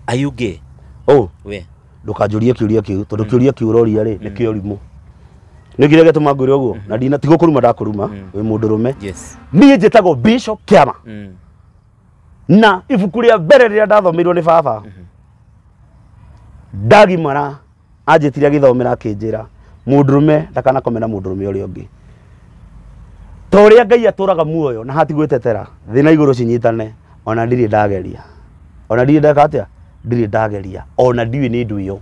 Are you gay? Oh, we. Ndũkanjũrie kĩũria kĩu tondũ kĩũria kĩu ũroria rĩ nĩ kĩa ũrimũ. Nĩ kĩrĩa gĩtũma ngwĩre ũguo na ndina ti gũkũruma ndakũruma wĩ mũndũ rũme. Yes. Niĩ njĩtagwo Bishop Kĩama Mm. na ibuku rĩa mbere rĩrĩa ndathomeirwo nĩ baba ndagimara anjĩtire agĩthomera akĩnjĩra mũndũrũme ndakanakome na mũndũrũme ũrĩa ũngĩ ta ũrĩa ngai atũraga muoyo na hatigwĩtetera thĩ na igũrũ cinyitane ona ndirĩ ndageria ona ndirĩ ndeka atĩa ndirĩ ndageria ona ndiũĩ nĩ ndũ ĩyo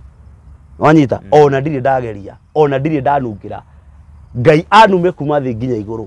wanyita ona ndirĩ ndageria ona ndirĩ ndanungĩra ngai anume kuma thĩ nginya igũrũ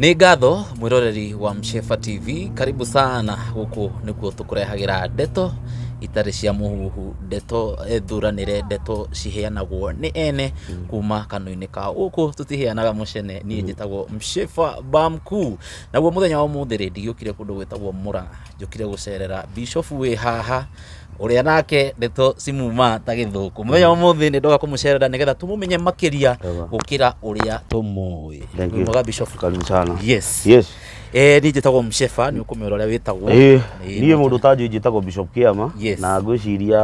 nĩ ngatho mwĩroreri wa mshefa tv karibu sana gũkũ nĩkuo tũkũrehagĩra ndeto itarĩ cia mũhuhu ndeto eh, thuranĩre ndeto ciheanagwo nĩ ene kuma kanua-inĩ ka gũkũ tũtiheanaga mũcene niĩ njĩtagwo mshefa bamku naguo mũthenya wa ũmũthĩ rĩ ndigĩũkire kũndũ gwĩtagwo mũra njũkire gũcerera bishofu wĩ haha ũrĩa nake ndeto cimuma ta gĩthũkũ mũthenya wa ũmũthĩ nĩ ndoka kũmũcerera nĩgetha tũmũmenye makĩria Wega. gũkĩra ũrĩa tũmũĩ Thank you. mwega bishofu karibu sana yes yes eh niĩ njĩtagwo msheba nĩ ũkũmera ũrĩa wĩtagwo Eh, Nĩ- niĩ mũndũ ta njũĩ njĩtagwo bishop kĩama Yes. na ngwĩciria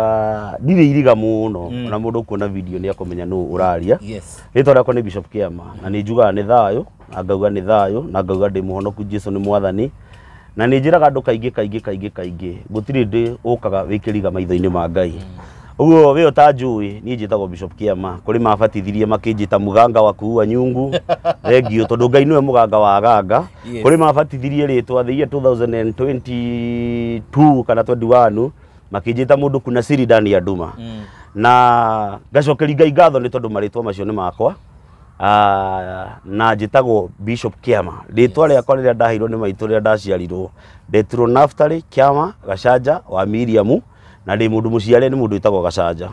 ndirĩ iriga mũno Mm. na mũndũ kuona video nĩ akũmenya nũ ũraria yes rĩtwa rĩakwa nĩ bishop kĩama na nĩ njugaga nĩ thayũ na ngauga nĩ thayũ na ngauga ndĩ mũhonoku jesu nĩ mwathani Na nĩ njĩraga andũ kaingĩ kaingĩ kaingĩ kaingĩ gũtirĩ ndĩ ũkaga wĩ kĩriga maitho-inĩ ma Ngai. Ũguo wĩ ũtanjũĩ niĩ njĩtagwo Bishop Kĩama. Kũrĩ mabatithirie makĩnjĩta mũganga wa kuua nyungu. Thengiũ tondũ Ngai nĩwe mũganga wa aganga. Yes. Kũrĩ mabatithirie rĩtwa the year 2022 kana 21 makĩnjĩta mũndũ kuna siri ndani ya nduma. Na ngacokeria Ngai ngatho nĩ tondũ marĩtwa macio nĩ makwa. Ah, na njĩtagwo Bishop Kĩama rĩtwa rĩakwa rĩrĩa ndaheirwo nĩ maitũ rĩrĩa ndaciarirwo ndetirwo Naftali Kĩama Gacanja wa Miriamu na ndĩ mũndũ mũciare nĩ mũndũ wĩtagwo Gacanja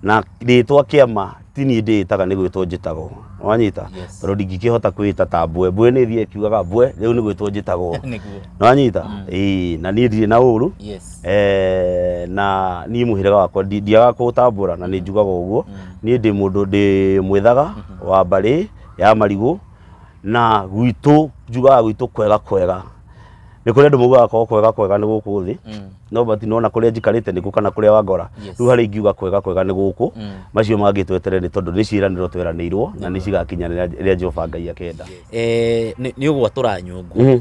na rĩtwa Kĩama ti niĩ ndĩĩtaga nĩ gwĩtwo njĩtagwo wanyita Yes. tondũ ndingĩkĩhota kwĩĩta ta mbwe mbwe nĩ thiĩ kiugaga mbwe rĩu nĩ gwĩtwo njĩtagwo nĩguo nĩwanyita ĩĩ na niĩ ndirĩ na ũru yes Eh, na niĩ mũhĩrĩga wakwa ndi- ndiagaga kũũtambũra na nĩ njugaga ũguo niĩ ndĩ mũndũ ndĩ mwĩthaga wa mbarĩ ya marigũ na gwitũ njugaga gwitũ kwega kwega nĩ kũrĩ andũ maugaga kwao kwega kwega nĩ gũkũ thĩ no but nona kũrĩa njikarĩte nĩkuo kana kũrĩa wangora Yes. rĩu harĩa ingiuga kwega kwega nĩ gũkũ macio mangĩ twetere nĩ tondũ nĩ ciĩranĩro tweranĩirwo na nĩ cigakinya rĩrĩa rĩrĩa Jehova Ngai akenda Eh, nĩ nĩ ũgwatũra nyũngũ Mhm.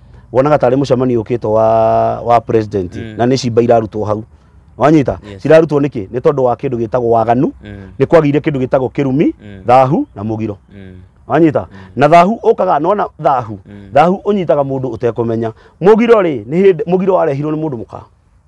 wonaga tarĩ mũcemanio ũkĩte wa wa president Mm. na nĩ cimba irarutwo hau wanyita Yes. cirarutwo nĩkĩ nĩ tondũ wa kĩndũ gĩtagwo waganu Mm. nĩ kwagĩire kĩndũ gĩtagwo kĩrumi Mm. thahu na mũgiro Mm. wanyita na thahu ũkaga nona thahu Mm. thahu ũnyitaga mũndũ ũtekũmenya mũgiro rĩ nĩ hĩndĩ mũgiro warehirwo nĩ mũndũ mũka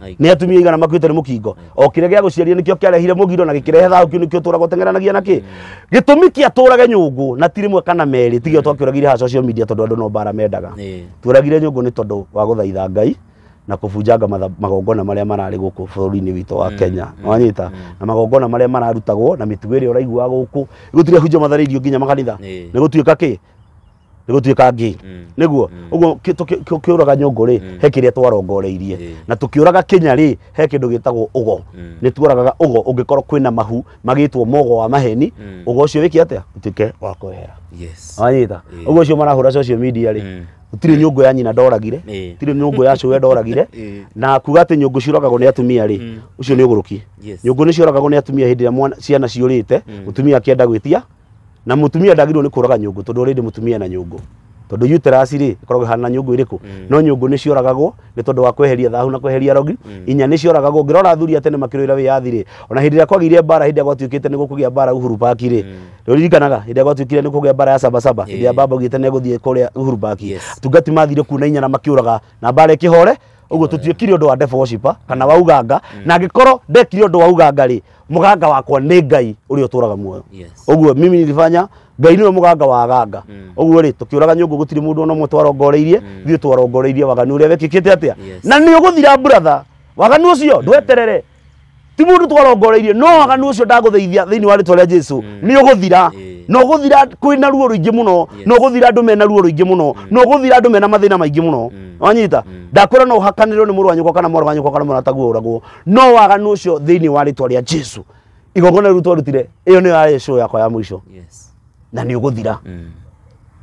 Ai. nä atumia igana makuä nä må kingo o kä rä a gä a gå ciarire nä kä o kä arehire må giro na gä kä rehe thayå kä nä kä å tå raga å tengeranagia na kä gä tå mi kä atå rage nyå ngå na ti rä mwe kana merä tigä o twakä å ragire ha social media tondå andå no mbara mendaga Ĩĩ. tũragire nyũngũ nĩ tondũ wa gũthaitha ngai na kũbunjanga matha- magongona marĩa mararĩ gũkũ bũrũri-inĩ witũ wa kenya wanyita na magongona marĩa mararutagwo na mĩtugo ĩrĩa ũraiguaga gũkũ gũtirĩ hunjia matharĩirio nginya makanitha Ĩĩ. nĩ gũtuĩka kĩ nĩgũtuĩka ngĩĩ Mm. nĩguo Mm. ũguo kĩ- tũkĩ- kĩ- ũkĩũraga nyũngũ rĩ Mm. he kĩrĩa twarongoreirie Ĩĩ. na tũkĩũraga kĩnya rĩ he kĩndũ gĩtagwo ũgo Mm. nĩ tuoragaga ũgo ũngĩkorwo kwĩna mahu magĩtwo mogo wa maheni Mm. ũgo ũcio wĩke atĩa ũtuĩke wa kwehera Yes. wanyita Ĩĩ. ũguo ũcio marahũra social media rĩ Mm. gũtirĩ nyũngũ ya nyina ndoragire Ĩĩ. gũtirĩ nyũngũ ya cũwe ndoragire Ĩĩ. na kuga atĩ nyũngũ ciũragagwo nĩ atumia rĩ Mm. ũcio nĩ ũgũrũki Yes. nyũngũ nĩ ciũragagwo nĩ atumia hĩndĩ ĩrĩa mwana- ciana ciũrĩte Mm. mũtumia akĩenda gwĩtia na mutumia ndagirwo ni kuraga nyungu tondu already mutumia na nyungu tondu uterasi ri ikoragwo ihana nyungu iriku mm. no nyungu ni cioragagwo ni tondu wa kweheria thahu na kweheria rogi mm. inya ni cioragagwo ngirona athuri atene makirwira wiyathi ri ona hindi ria kwagire bara hindi gwatuikite ni gukugia bara uhuru park ri mm. ririkanaga hindi gwatuikire ni kugia bara ya saba saba hindi ya baba gite ni guthie kuria uhuru park tungati mathire kuna inya na makiuraga na bara ikihore uguo tutiekire undu wa death worshipper kana wauganga na ngikorwo ndekire undu wa uganga ri muganga wakwa nĩ ngai ũrĩa ũtũraga muoyo Yes. ũguo mimi nilifanya ngai nĩwe muganga wa aganga Mm. ũguo rĩ tũkĩũraga nyũngũ gũtirĩ mũndũ ona ũmwe twarongoreirie Mm. ithuĩ twarongoreirie waganu ũrĩa wekĩkĩte atĩa Yes. na nĩ ũgũthira brother waganu ũcio ndweterere ti mũndũ twarongoreirie no waganu ũcio ndagũtheithia thĩinĩ wa rĩtwa rĩa jesu Mm. nĩ ũgũthira Eh. na ũgũthira kwĩna ruo rũingĩ mũno Yes. na ũgũthira andũ mena ruo rũingĩ mũno na ũgũthira andũ mena mathĩna maingĩ mũno Mm. wanyita Mm. ndakwĩra no ũhakanĩrwo nĩ mũrũ wa nyũkwa kana mwarĩ wa nyũkwa kana mũrataguo ũragwo no waganu ũcio thĩinĩ wa rĩtwa rĩa jesu igongona rĩu twarutire ĩyo nĩyo yarĩ show yakwa ya mũico Yes. na nĩ ũgũthira Mm.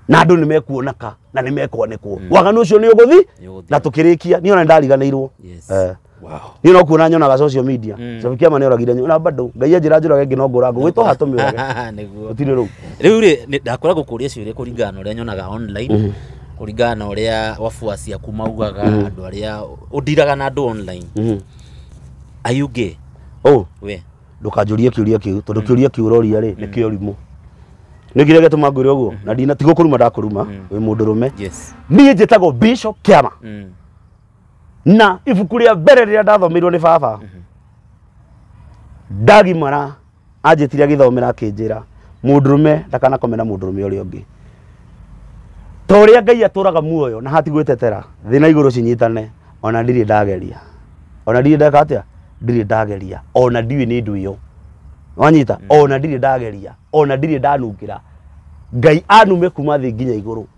na andũ nĩ mekuonaka na nĩ mekwanĩkwo waganu ũcio nĩ ũgũthi Nĩũgũthira. na tũkĩrĩkia niĩ ona ndariganĩirwo Yes. Eh. Wow. niä no kuona nyonaga social media Mm. cabi kä ama nä oragire na bado ngai anjä ra njå rage ngä no ngå ra ngå gwä to hatå mä orage gå Nĩguo. tirä rä u Rĩu rĩ ndakwĩra gũkũria ciũria kũringana na ũrĩa nyonaga online kũringana na ũrĩa wabuaci aku maugaga andũ arĩa ũndiraga na andũ online Mhm. are you gay oh we ndũkanjũrie kĩũria kĩu tondũ kĩũria kĩu ũroria rĩ nĩ kĩa ũrimũ nĩ kĩrĩa gĩtũma ngwĩre ũguo na ndina tiga kũruma ndakũruma wĩ mũndũ rũme yes niĩ njĩtagwo bishop kĩama mm. na ibuku rĩa mbere rĩrĩa ndathomeirwo nĩ baba ndagimara Anjĩtire agĩthomera akĩnjĩra, mũndũrũme ndakanakome na mũndũrũme ũrĩa ũngĩ. Ta ũrĩa Ngai atũraga muoyo na hatigwĩtetera, thĩ na igũrũ cinyitane, ona ndirĩ ndageria. Ona ndirĩ ndeka atĩa? Ndirĩ ndageria. Ona ndiũĩ nĩ ndũ ĩyo. Wanyita? Ona ndirĩ ndageria. Ona ndirĩ ndanungĩra. Ngai anume kuma thĩ nginya igũrũ.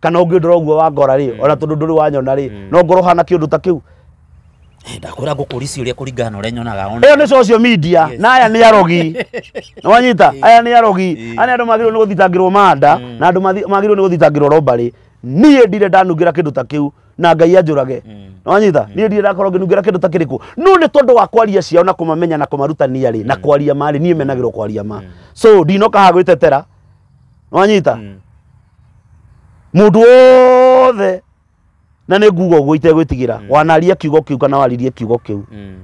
kana ũngĩndora ũguo wangora rĩ ona tondũ ndũrĩ wanyona rĩ no ngorwo hana kĩũndũ ta kĩu Eh, ndakwĩra ngũkũri ciũria kũringana na ũrĩa nyonaga ona ĩyo nĩ social media Yes. na aya nĩ arogi nĩwanyita aya nĩ arogi Eh. aya nĩ andũ magĩrĩirwo nĩ gũthitangĩrwo manda na andũ mathi- magĩrĩirwo nĩ gũthitangĩrwo robarĩ niĩ ndire ndanungĩra kĩndũ ta kĩu na ngai anjũrage nĩwanyita niĩ ndire ndakorwo ngĩnungĩra kĩndũ ta kĩrĩkũ no nĩ tondũ wa kwaria ciao na kũmamenya na kũmarutania rĩ na kwaria marĩ niĩ menagĩrwo kwaria ma so ndinoka ha gwĩtetera nĩwanyita mũndũ wothe na nĩ nguga ũguo itegwĩtigĩra Mm. wanaria kiugo kĩu kana waririe kiugo kĩu Mm.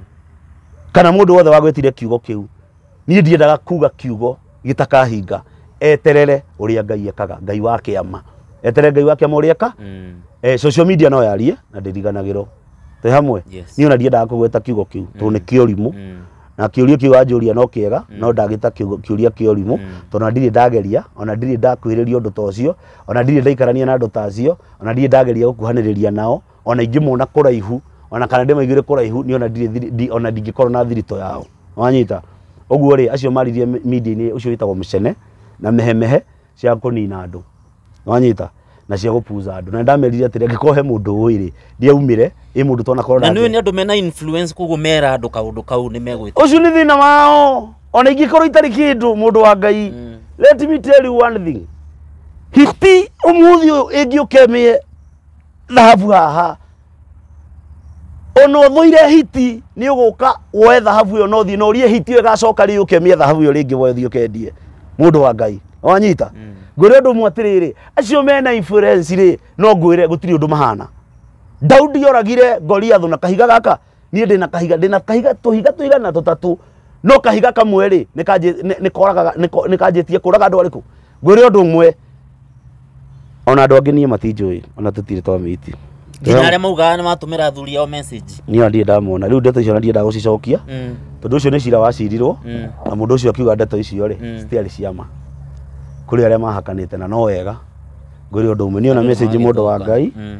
kana mũndũ wothe wagwĩtire kiugo kĩu niĩ ndiendaga kuga kiugo gĩtakahinga eterere ũrĩa ngai ekaga ngai wa kĩama eterere ngai wa kĩama ũrĩa eka Mm. eh, social media no yarie na ndĩriganagĩrwo twĩ hamwe Yes. niĩ ona ndiendaga kũgweta kiugo kĩu tondũ nĩ kĩũrimũ Mm. na kĩũria kĩu wanjũria no kĩega mm. no ndagĩta kĩũria kĩa ũrimũ mm. tondũ na ndirĩ ndageria ona ndirĩ ndakuhĩrĩria ũndũ ta ũcio ona ndirĩ ndaikarania na andũ ta acio ona ndirĩ ndageria gũkuhanĩrĩria nao ona ingĩmona kũraihu ona kana ndĩmaiguĩre kũraihu nĩ ona ndirĩ ona ndingĩkorwo na thirito yao wanyita ũguo rĩ acio maririe media-inĩ ũcio wĩtagwo mĩcene na mehemehe cia kũnina andũ wanyita na cia gũpuza andũ na ndamerire atĩrĩ angĩkorwo he mũndũ ũĩ rĩ ndiaumire ĩ mũndũ twana korwo na nä nĩ andå mena influence koguo mera andå kaå ndå kau nä megwä å cio nä thä na wao ona ingĩkorwo itarĩ kä ndå må ndå wa ngai Mm. let me tell you one thing hiti å må thä å yå ä ngä å kemä thahabu haha ona ũmũire hiti nĩ ũgũka woe thahabu ĩyo na ũthiĩ na ũrie hiti ĩyo ĩgacoka rĩ yũke mĩe thahabu ĩyo rĩngĩ woe ũthiĩ ũkendie mũndũ wa ngai wanyita ngwĩre ũndũ ũmwe atĩrĩrĩ acio mena influence rĩ no ngwĩre gũtirĩ ũndũ mahana daudi oragire goliathũ na kahiga gaka niĩ ndĩna kahiga ndĩna kahiga tũhiga tũigana tũtatũ no kahiga kamwe rĩ nĩkanjĩtie kũraga andũ arĩkũ ngwĩre ũndũ ũmwe ona andũ angĩ niĩ matinjũĩ ona tũtirĩ twamĩti nginya arĩa maugaga nĩ matũmĩra athuri ao message niĩ ndirĩ ndamona rĩu ndeto icio na ndirĩ ndagũcicokia Mm, tondũ ũcio nĩ cira wacirirwo mm, na mũndũ ũcio akiuga ndeto icio rĩ Mm. citiarĩ ciama kũrĩ arĩa mahakanĩte na no wega ngwĩre ũndũ ũmwe niĩ ona message mũndũ wa ngai mm.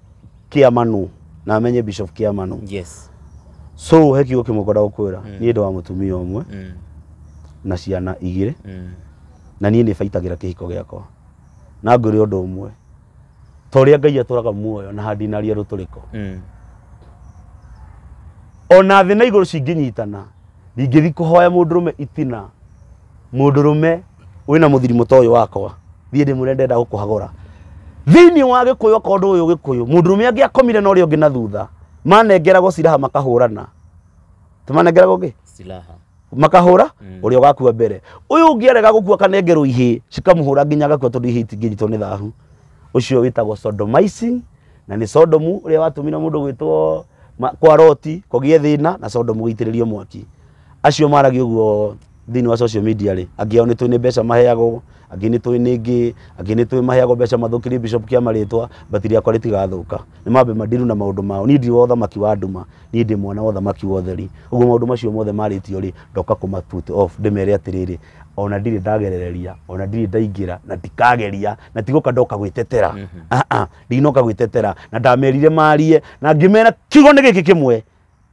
kĩamanu na amenye bishop kĩamanu yes so he kiugo kĩmwe ngwenda gũkwĩra Mm. niĩ ndĩ wa mũtumia ũmwe mm. na ciana igĩrĩ Mm. na niĩ nĩ baitagĩra kĩhiko gĩakwa na ngwĩre ũndũ ũmwe ta ũrĩa ngai atũraga muoyo na handinaria rũtũrĩko Mm. ona thĩ na igũrũ cingĩnyitana ndingĩthi kũhoya mũndũrũme itina Mũndũrũme wĩna mũthirimũ ta ũyũ wakwa, thiĩ ndĩmwĩre ndĩrenda gũkũhagũra. Thĩinĩ wa Gĩkũyũ okorwo ndũĩ Ũgĩkũyũ, mũndũrũme angĩakomire na ũrĩa ũngĩ na thutha, manengeragwo ciraha makahũrana. Timanengeragwo kĩ? Silaha. makahũra ũrĩa ũgakua mbere ũyũ ũngĩ arega gũkua akanengerwo ihĩ cikamũhũra nginya agakua tondũ ihĩ itingĩnyitwo nĩ thahu ũcio wĩtagwo sodomizing na nĩ sodomu ũrĩa watũmire mũndũ gwĩtwo ma- kwa roti kũgĩe thĩna na sodomu gũitĩrĩrio mwaki Acio maragia ũguo thĩinĩ wa social media rĩ, angĩ ao nĩ tũĩ nĩ mbeca maheagwo, angĩ nĩ tũĩ nĩ ngĩ, angĩ nĩ tũĩ maheagwo mbeca mathũkĩrie Bishop Kia marĩtwa, but rĩakwa rĩtigathũka. Nĩ mambe mandiru na maũndũ mao. Niĩ ndirĩ wa ũthamaki wa nduma, niĩ ndĩ mwana wa ũthamaki wa ũtheri. Ũguo maũndũ macio mothe marĩtio rĩ, ndoka kũma put off, ndĩmere atĩrĩrĩ, ona ndirĩ ndagerereria, ona ndirĩ ndaingĩra, na ndikageria, na ti gũka ndoka gwĩtetera. Ndinoka gwĩtetera. Na ndamerire marie, na ngĩmera kiugo nĩ gĩkĩ kĩmwe.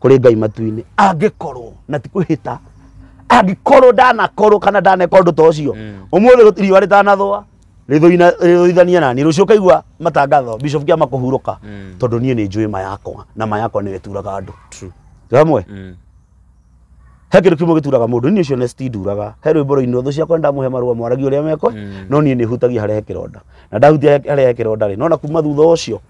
kũrĩ ngai matu-inĩ angĩkorwo na ti kwĩhĩta angĩkorwo ndanakorwo kana ndaneka ũndũ ta ũcio Mm. ũmũthĩ gũtirĩ riũa rĩtanathũa rĩthũina- rĩthũithanie nani rũciũ kaigua matangatho bishop kĩama kũhurũka Mm. tondũ niĩ nĩ njũĩ ma yakwa na ma yakwa nĩwe turaga andũ True. ramwe Mm. he kĩndũ kĩmwe gĩturaga mũndũ niĩ ũcio nesti nduraga he rwĩmbo rũinĩ ũthũ ciakwa ndamuhe marũa mwaragia ũrĩa mekwe Mm. no niĩ nĩ hutagia harĩa he kĩronda na ndahutia harĩa he kĩronda rĩ nona kuma thutha ũcio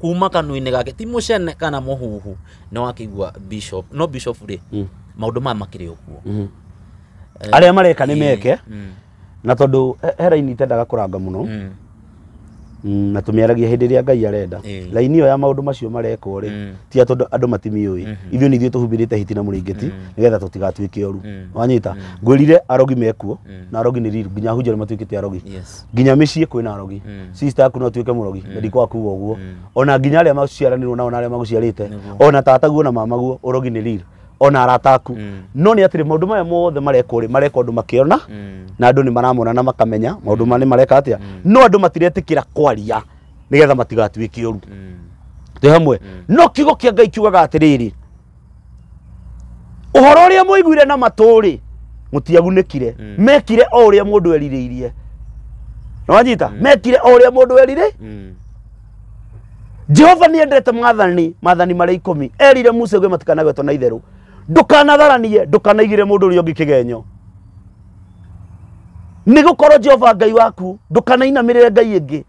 kuma kanua-inĩ gake ti mũcene kana mũhuhu nĩ wakĩigua bishop no bishop rĩ Mm. maũndũ maya makĩrĩ o kuo Mhm. arĩa mareka nĩ meke Mm, na tondũ he- he raini itendaga kũranga mũno mm, Mm, na tũmĩaragia hĩndĩ ĩrĩa ngai arenda Ĩĩ. raini ĩyo ya maũndũ macio marekwo rĩ Mm. ti atũ andũ- andũ matimiũĩ Mhm. ithuĩ nĩ ithuĩ tũhumbĩrĩte hiti na mũrĩngĩti Mm. nĩgetha tũtigatuĩke oru Mm. wanyita ngwĩrire arogi mekuo Mm. na arogi nĩ riru nginya hunjĩra matuĩkĩte arogi yes nginya mĩciĩ kwĩna arogi Mm. sister aku no atuĩke mũrogi na ndikwa kuga ũguo Mm. ona nginya arĩa maciaranirwo nao na arĩa maguciarĩte Nĩguo. ona tataguo na mamaguo ũrogi nĩ riri ona arata aku Mm. no nĩ atĩrĩ maũndũ maya mothe marekwo rĩ mareka ũndũ makĩona Mm. na andũ nĩ maramona na makamenya maũndũ manĩ mareka atĩa no andũ matiretĩkĩra kwaria nĩgetha matigatuĩke ũru Mm. twĩ hamwe no kiugo kĩa ngai kiugaga atĩrĩrĩ ũhoro ũrĩa mwaiguire na matũrĩ mũtiagunĩkire Mm. mekire o ũrĩa mũndũ erirĩirie nĩwanyita mekire o ũrĩa mũndũ erirĩirie Mm. jehova nä endete mathani mathani marä ikåmi erire musa gwe matikanagwetwo na itherå ndåkanatharanie ndåkanaigire må ndå å rä a å ngä kä genyo nä gå korwo jehova ngai waku ndåkanainamä rä re ngai ä ngä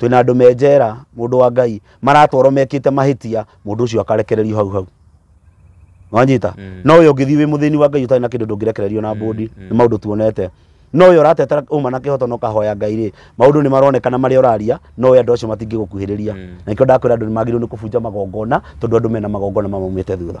twĩna andũ me njera mũndũ wa ngai maratwarwo mekĩte mahĩtia mũndũ ũcio akarekererio hau hau wanyita Mm. no ũyũ ũngĩthiĩ wĩ mũthĩni wa ngai ũtarĩ na kĩndũ ndũngĩrekererio na mbũndi nĩ maũndũ tuonete no ũyũ ũratetera ũma na kĩhoto na ũkahoya ngai rĩ maũndũ nĩ maronekana marĩa ũraria no ũyũ andũ acio matingĩgũkuhĩrĩria Mm. na ikĩo ndakwĩra andũ nĩ magĩrĩirwo nĩ kũbunja magongona tondũ andũ mena magongona mamaumĩte thutha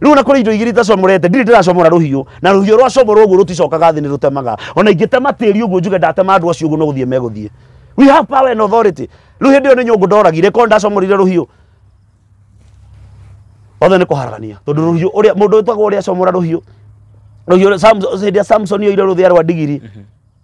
riu na kuri indo igiri itacomorete ndiri ndiracomora ruhiu na ruhiu rwacomorwo uguo ruticokaga thi ni rutemaga ona ingitema tiri uguo njuge ndatema andu acio uguo no guthie meguthie we have power and authority riu hindi iyo ni nyungu ndoragire ko ndacomorire ruhiu othe nä kå haragania tondå rå hiå å rä a må ndå wä twagwo å rä a comora rå hiå rå hiå hä ndä ya samson oire rå thä a rwa ndigiri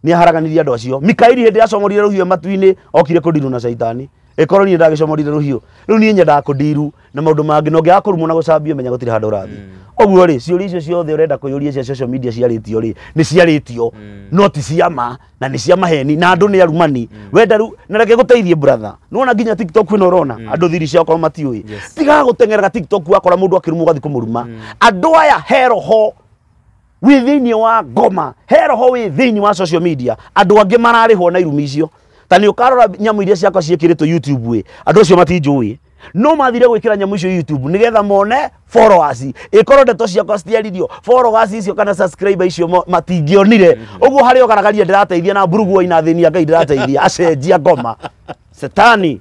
nĩaharaganirie andũ acio mikaeli hĩndĩ ĩrĩa acomorire rũhiũ matu-inĩ okire kũndirwo na caitani ĩkorwo niĩ ndagĩcomorire rũhiũ rĩu niĩ nyendaga kũndiru na maũndũ mangĩ na ũngĩaga kũrumwo na gũcambio menya gũtirĩ handũ ũrathiĩ ũguo rĩ ciũria icio ciothe ũrenda kũyũria cia social media ciarĩtio rĩ nĩ ciarĩtio no ti cia ma na nĩ cia maheni na andũ nĩ arumani wenda rĩu na reke gũteithie brother nĩwona nginya tiktok ĩno ũrona andũ thiri ciao korwo matiũĩ Yes. tigaga gũteng'eraga tiktok wakora mũndũ akĩrumwo ũgathiĩ kũmũruma andũ aya he roho wĩ thĩinĩ wa ngoma he roho wĩ thĩinĩ wa social media andũ angĩ mararĩhwo na irumi icio ta nĩ ũkarora nyamũ iria ciakwa ciĩkĩrĩtwo youtube ĩ andũ acio matinjũĩ no mathire gwĩkĩra nyamũ icio youtube nĩgetha mone followers ĩkorwo ndeto ciakwa citiaririo followers icio kana subscriber icio mo- matingĩonire ũguo harĩ ogaragaria ndĩrateithia na mburuguo ina thĩni ya ngai ndĩrateithia acenjia ngoma setani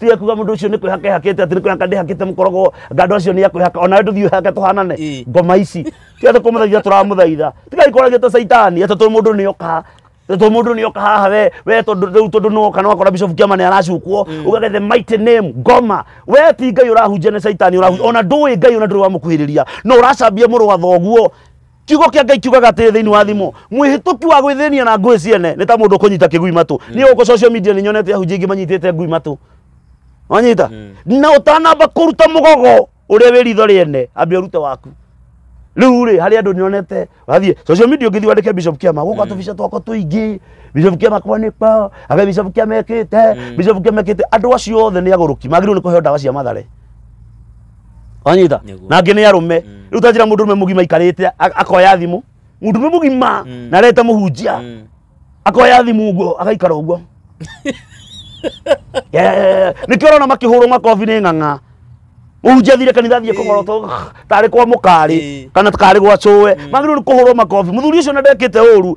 tiga kuga mundu ucio ni kwihaka ihakite ati ni kwihaka ndihakite mukorogo ngando acio ni akwihaka ona we nduthiu ihake tuhanane Ĩ. ngoma ici tiga tukumuthaitha turamuthaitha tiga ikorage ta saitani ati tu mundu ni oka tu mundu ni oka haha we we tondu riu tondu ni oka no akora bishop kiama ni aracukwo ugage the mighty name ngoma we ti ngai urahunjia ni saitani urahunjia ona ndui ngai ona nduri wamukuhiriria no uracambia muru wa thoguo kiugo kĩa ngai kiugaga atĩrĩ thĩinĩ wa thimũ mwĩhĩtũki wa gwĩthĩnia na ngũĩ ciene nĩ ta mũndũ ũkũnyita kĩgui matũ niĩ gũkũ social media nĩ nyonete ahunjia aingĩ manyitĩte ngui matũ wanyita na ũtanamba kũruta mũgogo ũrĩa wĩ ritho rĩene ambe ũrute waku rĩu rĩ harĩ andũ nĩonete wathiĩ social media ũngĩthiĩ wandĩke bishop kĩama gũka tũbica twakwa tũingĩ bishop kĩama kwanĩkwa aga bishop kĩama ekĩte bishop kĩama ekĩte andũ acio othe nĩ agũrũki magĩrĩirwo nĩ kũheo ndawa cia mathare wanyita Nĩguo. na angĩ nĩ arũme rĩu tanjĩra mũndũ ũrũme mũgima aikarĩte a- akoya thimũ mũndũ ũrũme mũgima Mm. na arete mũhunjia Mm. akoya thimũ ũguo agaikara ũguo Yeah. nĩkĩo ũrona makĩhũrwo makobi nĩ ng'ang'a mũhunjia thire kanitha thiĩ kũgorotwo tarĩ kwa mũkarĩ Ĩĩ. kana karĩ gwa cũwe magĩrĩirwo nĩ kũhũrwo makobi mũthuri ũcio na ndekĩte ũru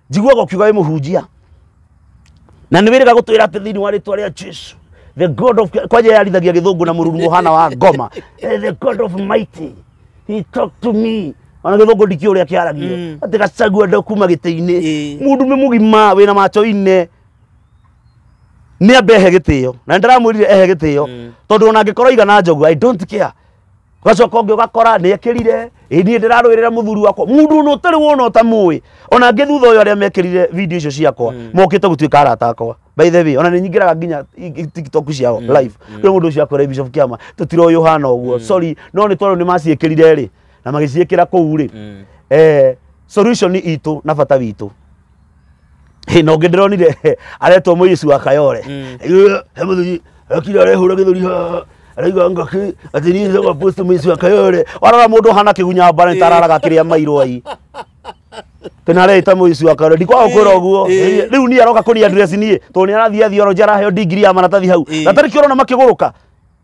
njiguaga ũkiuga wĩ mũhunjia na nĩ wĩrĩga gũtwĩra atĩ thĩinĩ wa rĩtwa rĩa jesu the god of kwanja yarithagia gĩthũngũ na mũruru mũhana wa ngoma Eh, the god of mighty he talk to me ona gĩthũngũ ndikĩ ũrĩa kĩaragio Mm. atĩ gacagua ndo kuma gĩtĩ-inĩ Ĩĩ. mũndũ nĩ mũgima wĩna macho ine nĩ ambe ehe gĩtĩo na nĩ ndĩramwĩrire ehe gĩtĩo Mm. tondũ ona angĩkorwo igana njogu i don't care gacoka ũngĩ ũgakora nĩ ekĩrire ĩ niĩ ndĩrarũĩrĩra mũthuri wakwa mũndũ ona ũtarĩ wona ũtamũĩ ona ngĩ thutha ũyũ arĩa mekĩrire video icio ciakwa mokĩte gũtuĩka arata akwa by the way ona nĩ nyingĩraga nginya i- i- tiktok ciao live kwĩ mũndũ ũcio akwĩra bishop kĩama tũtiroĩ ũhana ũguo sorry no nĩ tondũ nĩ maciĩkĩrire rĩ na magĩciĩkĩra kũu rĩ eh, solution itũ na bata witũ Hĩ, na ũngĩ ndĩronire aretwo mũici wa kayore Mm. Ĩ, he mũthuri akira arehũra gĩthũri haha araiga ngaki atĩ niĩ ndoga post mũici wa kayore warora mũndũ ũhana kĩgunya mbara nĩtararaga kĩrĩa mairwo ai tena rä ta må ici wa kayore ndikwaga kwä ra å guo Ĩ. rä u niä aroka kå ria niä tondå nä arathiä thiorojia araheo ndigiri ya maratathi hau Ĩ. na tarä kä å rona makä gå rå ka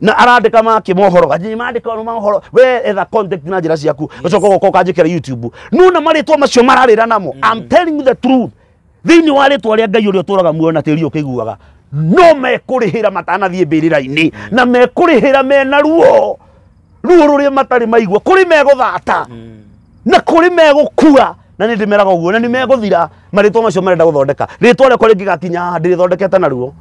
na arandika make mohoro ganyi mandika no mohoro we etha contact na njira ciaku ucoka ugoka ukanjikira youtube nuna maritwa macio mararira namo i'm telling you the truth thiini wa ritwa ria ngai uria uturaga muoyo na tiri ukiguaga no mekurihira matanathie mbirira-ini na mekurihira mena ruo ruo ruria matari maigua kuri meguthata na kuri megukua na nä ndä meraga å guo na nä megå thira marä twa macio marenda gå thondeka rä twa rä akwa rä ngä gakinya ndä rä thondekete naruo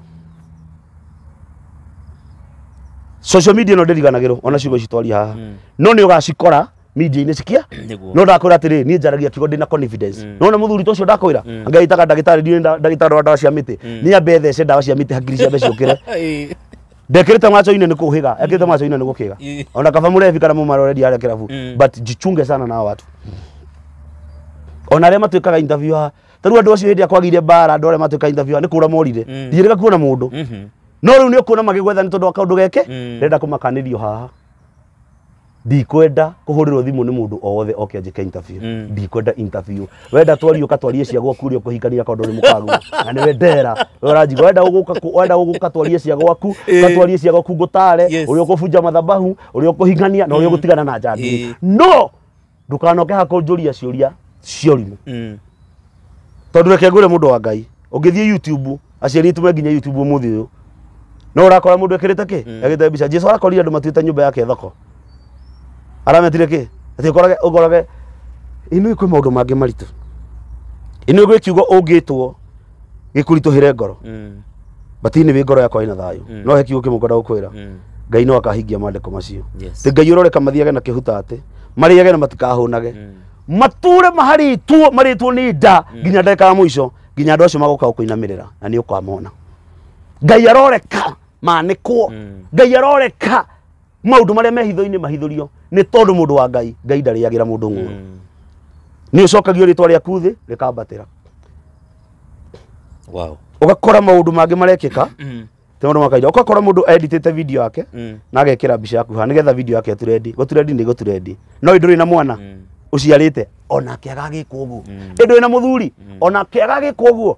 social media ĩno ndĩriganagĩrwo ona ciugo ici twaria haha Mm. no nĩ ũgacikora media-inĩ cikia Nĩguo. no ndakwĩra atĩrĩ niĩ njaragia kiugo ndĩna confidence Mm. nona mũthuri ta ũcio ndakwĩra Mm. anga itaga ndagĩtarĩ ndiũĩ nda- ndagĩtarĩ wa ndawa cia mĩtĩ Mm. niĩ ambe thece ndawa cia mĩtĩ hakiri ciambe ciũkĩre Ĩĩ. ndekĩrĩte macho-inĩ nĩ kũhĩga ekĩrĩte macho-inĩ nĩ gũkĩga Ĩĩ. ona kaba mũrebi kana mũmaroreri arĩa kĩrabu Mm. but jichunge sana na hawa watu ona arĩa matuĩkaga interview haha ta rĩu andũ acio hĩndĩ ĩrĩa kwagĩire mbara andũ arĩa matuĩka interviewer nĩ kũra morire Mm. ndiyerega kuona mũndũ Mhm. no rĩu nĩ ũkuona magĩgwetha nĩ tondũ wa kaũndũ geke Mm. renda kũmakanĩrio haha ndikwenda kũhũrĩrwo thimũ nĩ mũndũ o wothe oke anjĩke interview Mm. ndikwenda interview wenda twario katwarie cia gwaku ũrĩa ũkũhikania kaũndũ ũrĩ mũkagu na nĩwe ndera we ũranjiga wenda ũgũka kũ- wenda ũgũka katwarie cia gwaku Eh. katwarie cia gwaku ngũtare Yes. ũrĩa ũkũbunja mathabahu ũrĩa ũkũhikania na ũrĩa ũgũtigana na njangiri Eh. no ndukanoke hakunjuria ciuria ciorimu Mm. tondu reke ngwire mundu wa ngai ungithie youtube aciari itu me nginya youtube umuthi uyu no urakora mundu ekirite ki Mm. egite mbica jesu arakorire andu matuite nyumba yake thoko arametire ki ati ukorage ukorage inu ikwi maundu mangi maritu inu igwi kiugo ungitwo gĩkuritũhĩre ngoro Mm. batinĩ wĩ ngoro yakwa ĩna thayũ Mm. no he kiugo kĩmwe ngwenda gũkwĩra Mm. ngai no akahingia maandĩko macio Yes. ti ngai ũroreka mathiage na kĩhuta atĩ marĩage na matikahũnage Mm. mature maharĩtwo marĩtwo nĩ nda nginya ndagĩka ya mũico nginya andũ acio magoka gũkũinamĩrĩra na nĩ ũkamona ngai aroreka manĩkwo Mm. ngai aroreka maundu maria mehitho-ini mahithurio ni tondu mundu wa ngai ngai ndariagira mundu ng'uru Mm. ni ucokagio ritwa riaku thi rikambatira Wow. ugakora maundu mangi marekika Mm. ti maundu makaida ugakora mundu editite video yake Mm. na agekira mbica yaku ha nigetha video yake turendi guturendi ni guturendi no nduri na mwana Mm. uciarite onake agagikwo guo Mm. indi wina muthuri onake agagikwo guo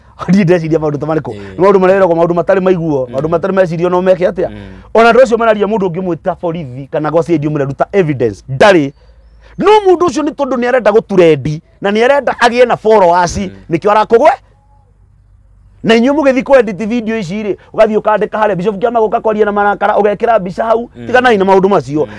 niĩ ndeciria maũndũ ta marĩkũ Nĩ maũndũ mareragwo maũndũ matarĩ maiguo maũndũ matarĩ mecirio no meke atĩa ona andũ acio mararia mũndũ ũngĩmwĩta borithi kana gwa CID ũmwĩre ruta evidence ndarĩ no mũndũ ũcio nĩ tondũ nĩ arenda gũturendi na nĩ arenda agĩe na followers nĩkĩo arakũgwe na inyuĩ mũgĩthiĩ kwenditi video ici rĩ ũgathiĩ ũkandĩka harĩa bishop kĩama gũka kwaria na marakara ũgekĩra mbica hau tiganai na maũndũ macio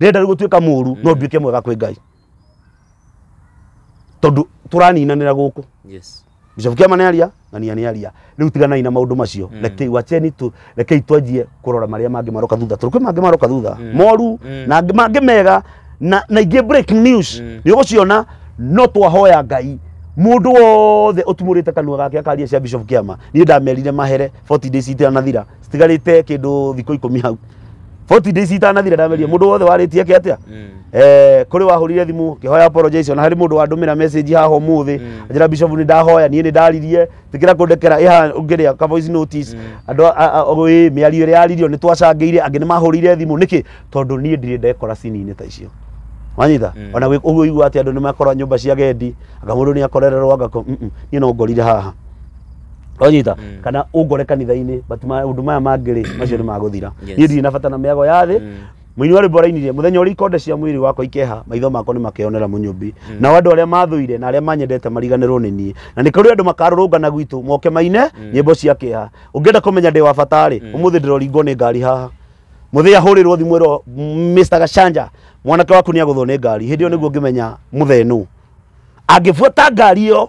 ndĩrenda rĩu gũtuĩka mũru no nduĩke mwega kwĩ ngai tondũ tũraninanĩra gũkũ Yes. Bishop Kiama nĩ aria na nia nĩ aria rĩu tiganai na maũndũ macio Mm. rekei wacheni tu rekei twanjie kũrora marĩa mangĩ maroka thutha tondũ kwĩ mangĩ maroka thutha Mm. moru Mm. na angĩ mangĩ mega na na ingĩ break news Mm. nĩ ũgũciona no twahoya ngai mũndũ wothe ũtumũrĩte kanua gake akaria cia Bishop Kiama niĩ ndamerire mahere 40 days itanathira citigarĩte kĩndũ thikũ ikũmi hau 40 days itanathira ndameria mundu wothe waritie ke atia Mm. eh kuri wahurire thimu kihoya apologize ona hari mundu wandumira message haha umuthi njira bishop ni ndahoya nie ni ndaririe tikira kundekera iha ungiria ka voice notice andu wi miario iri yaririo ni twacangire angi ni mahurire thimu niki tondu nie ndire ndekora sini-ini ta icio wanyita Mm. ona gwi- ũguo igua atä andå nä makorwo nyå mba cia gendi anga må ndå nä akorererwo anga niä no ngorire haha wanyita Mm. kana ũngore kanitha-inĩ but maũndũ maya mangĩ rĩ macio nĩ magũthira Yes. niĩ ndirĩ na bata na mĩago ya thĩ Mm. mũini wa rwĩmbo arainirie mũthenya ũrĩa ikonde cia mwĩrĩ wakwa ikeha maitho makwa nĩ makeyonera mũnyũmbi nao andũ arĩa mathũire na arĩa manyendete mariganĩrwo nĩ niĩ na nĩ kũrĩ andũ makarũrũngana gwitũ moke maine nyĩmbo cia kĩeha ũngĩenda kũmenya ndĩ wa bata rĩ ũmũthĩ ndĩroringwo nĩ ngari haha mũthĩa hũrĩrwo thimũ ĩro Mr. Gacanja mwanake waku nĩ agũthwo nĩ ngari hĩndĩ ĩyo nĩguo ngĩmenya mũthee nũ angĩbuata ngari ĩyo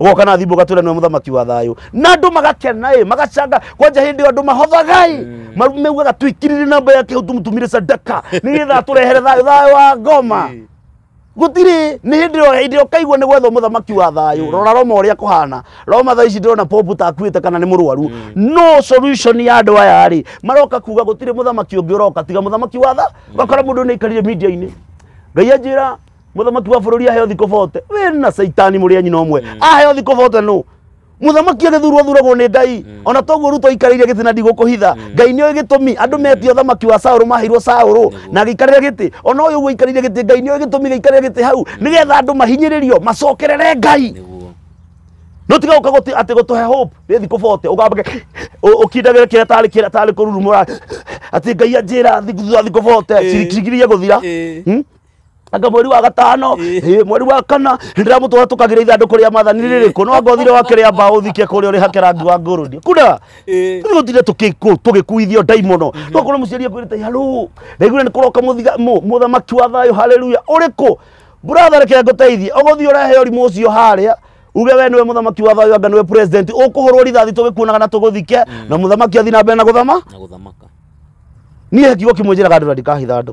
goka na thimbo gatwira niwe muthamaki wa thayo na andu magakena ĩ magacanga kwanja hindi ĩyo andu mahothagai maugaga twikirire namba yake hau tumutumire sadaka nigetha aturehere thayo thayo wa ngoma Eh. gutiri ni hindi ĩyo hindi ĩyo kaigua nĩ gwetha mũthamaki wa thayũ rora roma ũrĩa kũhana roma thaa ici ndĩrona popu takuĩte kana nĩ mũrwaru no solution ya andũ aya rĩ maroka kuga gũtirĩ mũthamaki ũngĩ ũroka tiga mũthamaki wa tha gakora mũndũ nĩ aikarire media-inĩ ngai anjĩra mũthamaki wa bũrũri aheo thikũ bote we na caitani mũrĩ anyi no mwe aheo thikũ bote nũ mũthamaki agĩthurwo thuragwo nĩ ngai ona toguo ruto aikarĩire gĩtĩ na ndigũkũhitha ngai nĩoĩ gĩtũmi andũ metia ũthamaki wa saũrũ maheirwo saũrũ na agĩikarĩra gĩtĩ ona ũyũ ũguo aikarĩire gĩtĩ ngai nĩoĩ gĩtũmi gĩikarĩra gĩtĩ hau nĩgetha andũ mahinyĩrĩrio macokerere ngai nĩguo no tiga uka guti ati gutuhe hope ni thiku bote ugambage ukindagire kira tari kira tari kururumura ati ngai anjira thiku thutha thiku bote Eh. cirikirigirie guthira Eh. Hmm? anga mweri wa gatano eh, mweri wa kana ndĩramũtwara tũkagĩra ithandũkũ rĩa mathani rĩrĩkũ no anga ũthire wakĩrĩa mbaũ ũthike kũrĩa ũrĩ hake rangi wa ngũrũni kuna Eh. rä tire tũgĩkuithio ndaimono no korwo mũciari akwĩrĩte halũ ndaiguire nĩ kũroka mũthiga- mũ- mũthamaki wa thayũ haleluya ũrĩkũ buratha reke ngũteithie ũgũthiĩ ũrehe ũrimũ ũcio harĩa uge we nĩwe mũthamaki wa thayũ anga nĩwe president ũkũhũrwo rithathi tũgĩkuonaga na tũgũthike na mũthamaki athiĩ na mbere na gũthama na gũthamaka niä kiugo kä mwä njä raga andå na ndikahitha andå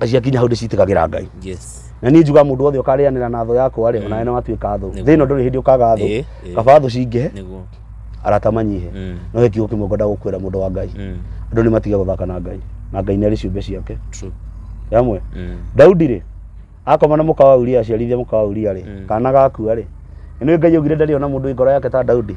na ciakinya hau ndĩcitĩkagĩra ngai yes na niĩ njuga mũndũ wothe ũkarĩanĩra na thũ yakwa rĩ onawe nĩ watuĩka thũ Nĩguo. thĩ ĩno ndũrĩ hĩndĩ ũkaga thũ Ĩĩ, ĩĩ. kaba thũ cingĩhe nĩguo arata manyihe Mm. no he kiugo kĩmwe ngwenda gũkwĩra mũndũ wa ngai Mm. andũ nĩ matige gũthaka na ngai na ngai nĩ arĩ ciũmbe ciake true yamwe Mm. daudi rĩ akoma na mũka wa uria aciarithia mũka wa uria rĩ Mm. kana gakua rĩ nĩ ngai augire ndarĩ ona mũndũ wĩ ngoro yake ta daudi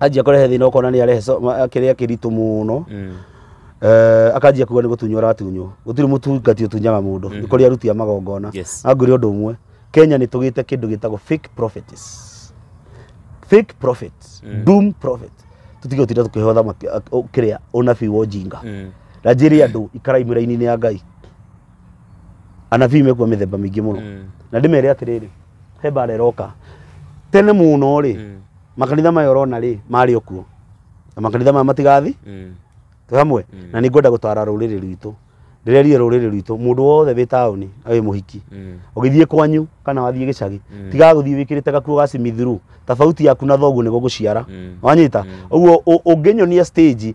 anjia kũrehe thĩna ũkona nĩ arehe so- ma- kĩrĩa kĩritũ mũno Eh, akanjia kuga nĩ gũtunywo aratunywo gũtirĩ mũtungati ũtunyaga mũndũ nĩ kũrĩ aruti a magongona Yes. na ngwĩre ũndũ ũmwe kenya nĩ tũgĩte kĩndũ gĩtagwo fake prophets fake prophet doom prophet tũtige gũtinda tũkĩheo thamaki a- ũ- kĩrĩa ũnabii wa ũjinga na njĩrĩ andũ ikarai mĩraini-inĩ ya ngai anabii mekuwa mĩthemba mĩingĩ mũno na ndĩmere atĩrĩrĩ he mbara ĩroka tene mũno rĩ Mm. makanitha maya ũrona rĩ marĩ okuo na makanitha maya matigathi Mm. twĩ hamwe Mm. na nĩ ngwenda gũtara rũrĩrĩ rwitũ ndĩrerie rũrĩrĩ rwitũ mũndũ wothe wĩ taũni na wĩ mũhiki Mm. ũgĩthiĩ kwanyu kana wathiĩ gĩcagi Mm. tigaga gũthiĩ wĩkĩrĩte gakuo ga simithuru tabauti yaku na thoguo nĩgo gũciara Mm. wanyita ũguo ũ- ũngĩnyonia stage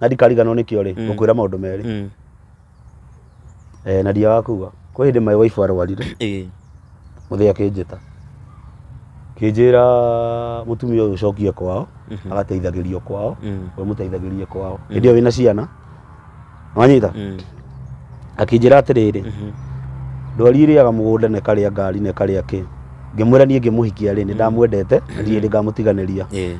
na ndikariganwo nĩkĩo rĩ Mm. ngũkwĩra maũndũ merĩ Mm. Eh, na ndia wakuga kwĩ hĩndĩ maĩ waibu arwarire Ĩĩ. mũthĩ akĩnjĩta kĩnjĩra mũtumia ũyũ ũcokie kwao Mhm. agateithagĩrio kwao Mm. we mũteithagĩrie kwao Mm. hĩndĩ ĩyo wĩna ciana wanyita Mm. akĩnjĩra atĩrĩrĩ Mhm. ndwari ĩrĩaga mũgũnda na ĩkarĩa ngari na ĩkarĩa kĩ ngĩmwĩra niĩ ngĩmũhikia rĩ nĩ ndamwendete na ndirĩ hĩndĩ ngamũtiganĩria Ĩĩ.